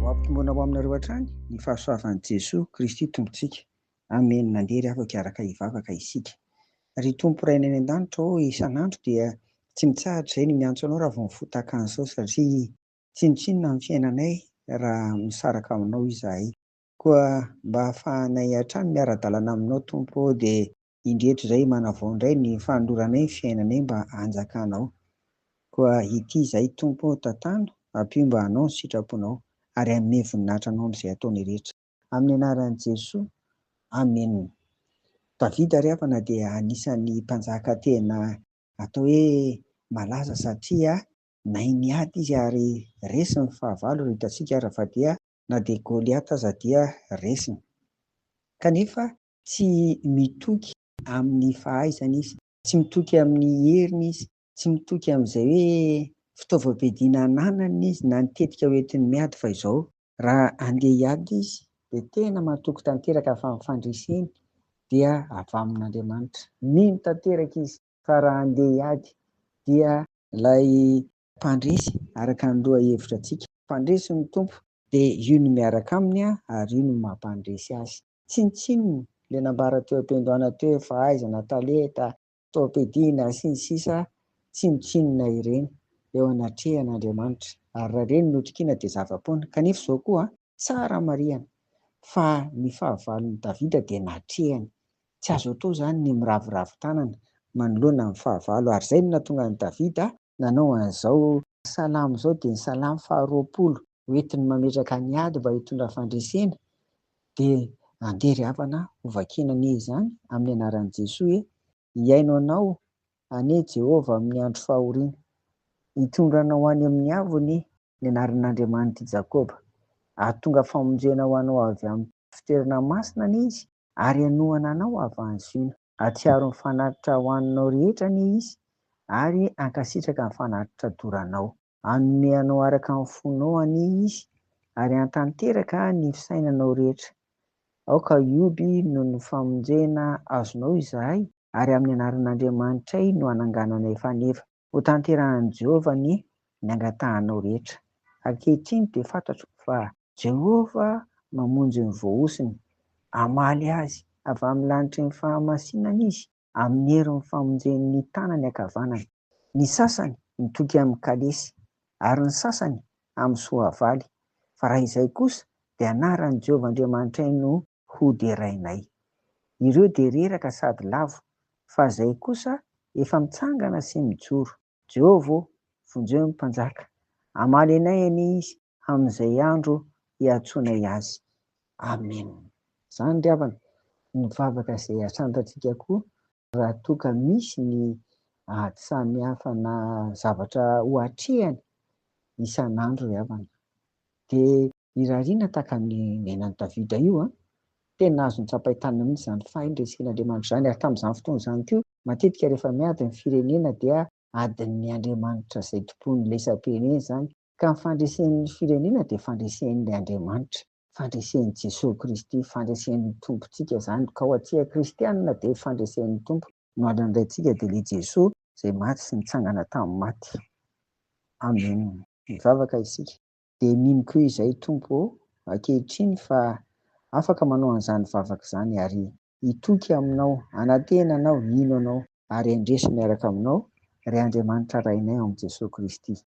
Ho ampitombona ho aminareo hatrany ny fahasoavan'i Jesoa Kristy Tompontsika. Amena. Nandeha ry havako hiaraka hivavaka isika. Ry Tompo Rainay any an-danitra ô, isan'andro dia tsy mitsahatra izahay ny miantso Anao raha vao mifoha tahaka an'izao satria tsinontsinona amin'ny fiainanay raha misaraka aminao izahay. Koa mba hahafahanay hatrany miara-dalana aminao Tompo ô dia indreto zay manavao indray ny fanoloranay ny fiainanay mba hanjakanao. Koa ity izahay Tompo ô tantano, ampio mba hanao ny sitraponao, ary hanome voninahitra anao amin'izay ataonay rehetra. Amin'ny anaran'i Jesoa, Amen. Davida ry havana dia anisan'ny mpanjaka tena atao hoe malaza satria nahay niady izy ary resiny ny fahavalo, raha hitantsika ary fa dia na dia Goliata aza dia resiny. Kanefa Tsy mitoky amin'ny fahaizany izy, tsy mitoky amin'ny heriny izy, tsy mitoky amin'izay hoe fitaovam-piadiana ananany izy na ny tetika hoentiny miady fa izao, raha handeha hiady izy dia tena matoky tanteraka fa ny fandreseny dia avy amin'Andriamanitra, mino tanteraka izy fa raha handeha hiady dia ilay mpandresy araka ny lohahevitra antsika, mpandresy ny Tompo dia io no miaraka aminy ary io no mampandresy azy. Tsinontsinona le nambara teo ampiandohana teo efa aiza na tale ta topedi na sy ny sisa Tsinontsinona ireny eo anatrehan Andriamanitra ary raha ireny notokiana dia zava-poana kanefa izao koa tsara marihana fa ny fahavalony Davida dia natrehany tsy azo atao izany ny miraviravy tanana manoloana ny fahavalo ary izay no nahatonga an'i Davida nanao an'izao salamo izao dia ny salamo faha roapolo hoentiny mametraka ny ady mba hitondra fandresena dia andeha ry havana hovakina anie izany amin'ny anaran'i Jesoa e! hihaino anao anie Jehovah amin'ny andro fahoriana, hitondra anao any amin'ny avo anie ny anaran'Andriamanitra i Jakoba, hahatonga famonjena ho anao avy amin'ny fitoerana masina anie izy ary hanohana anao havan'i Ziona. Hahatsiaro ny fanatitra ho aninao rehetra anie izy ary hankasitraka ny fanatitra doranao. Hanome anao araka ny fonao anie Izy, ary hantanteraka ny fisainanao rehetra. Aoka hihoby noho ny famonjena azonao izahay, ary amin'ny anaran'Andriamanitray no hanangananay faneva. Hotanterahin'i Jehovah ny ny angatahanao rehetra. Ankehitriny dia fantatro fa. Jehovah mamonjy ny voahosony. Hamaly azy avy amin'ny lanitry ny fahamasinany Izy. amin'ny herin'ny famonjeny ny tanany ankavanana, ny sasany mitoky amin'ny kalesy, ary ny sasany amin'ny soavaly, fa raha izay kosa dia anaran'i Jehovah Andriamanitray no hoderainay. Ireo dia reraka sady lavo, fa izay kosa efa mitsangana sy mijoro. Jehovah ô, vonjeo ny mpanjaka, hamaly anay anie izy, amin'izay andro iantsoanay azy. Amena. Izany ry havana ny vavaka izay asandratsika koa raha toa ka misy ny ady samihafa na zavatra ho atrehany isan'andro ry havana. Dia irariana tahaka ny nenan'i Davida io an! Tena azony tsapain-tanana mihitsy izany fahendresen'Andriamanitra izany ary tamin'izany fotoana izany koa matetika rehefa miady ny firenena dia adin'ny Andriamanitra izay tompon'ny lesam-pirenena izany Ka ny fandresen'ny firenena dia fandresen'ny Andriamanitra, fandresen'i Jesoa Kristy, fandresen'ny Tompontsika izany, ka ho antsika kristianina dia fandresen'ny Tompo no andrin'ny Raintsika dia ilay Jesoa izay maty sy nitsangana tamin'ny maty. Amen. Mivavaka isika. Dia mino koa izay Tompo ô, ankehitriny fa afaka manao an'izany vavaka izany ary hitoky Aminao, hanantena Anao, hino Anao ary handresy miaraka Aminao, ry Andriamanitra Rainay ao amin'i Jesoa Kristy.